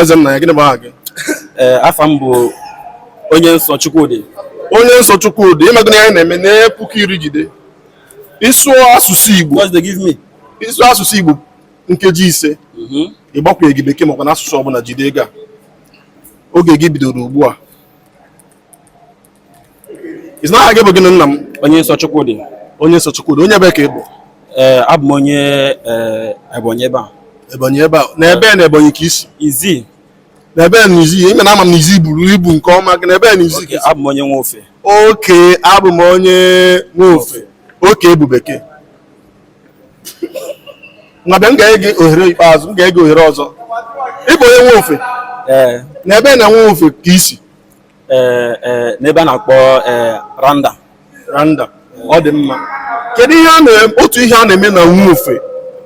eze nna ya gịnị bụ aha gị ee afa m bụ onye nsọ Chukwudi onye nsọ Chukwudi ịma gịnị anyị na-eme nee puku iri jide ịsụọ asụsụ Igbo what they give me ịsụọ asụsụ Igbo nkeji ise mm-hmm. ịgbakwunyeghị bekee makwa na asụsụ ọbụla jide ego a oge gị bidoro ugbu a Ị sị na aha gị bụ gịnị nna m? Onye nsọ Chukwudi. Onye nsọ Chukwudi. Onye ebee ka ị bụ? Ee, eh, abụ m onye eh, Ebonyi ebe a. Ebonyi ebe a. Na ebee na Ebonyi ka i si? Izzi. Na ebee na Izzi. Ị ma na ama m na Izzi buru ibu nke ọma gị. Na ebee na Izzi ka i si? Abụ m onye Nwofe. Okay, abụ m onye Nwofe. Okay bụ Bekee. Ngwa bịa m ga-enye gị ohere ikpeazụ, m ga-enye gị ohere ọzọ. Ị bụ onye Nwofe? Ee. Eh. Na ebee na Nwofe ka i si? eh, eh, n'ebe a na-akpọ eh, randa randa ọ dị mma kedu ihe otu ihe a na-eme na Nwofe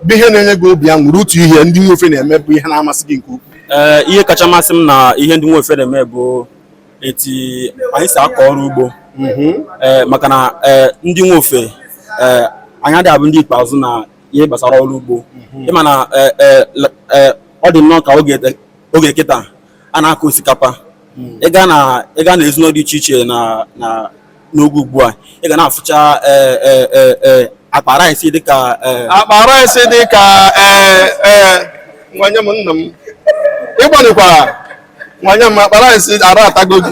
bụ ihe na-enye gị obi aṅụrị otu ihe ndị Nwofe na-eme bụ ihe na-amasị gị nke ukwuu ee eh, ihe kacha amasị m na ihe ndị Nwofe na-eme bụ eti anyị si akọ ọrụ ugbo mhm. eh, maka na eh, ndị Nwofe anyị adịghị abụ ndị ikpeazụ na ihe gbasara ọrụ ugbo mhm. ịma na ọ dị nnọọ ka oge kịta a na-akọ osikapa hmm. ị gaa na ezinụlọ dị iche iche n'oge ugbu a ị ga na-afụcha e, e, e, akpa rice dịka akpa rice dịka nwanne m nna m ị gbanyekwara nwanne m akpa rice ara atago gị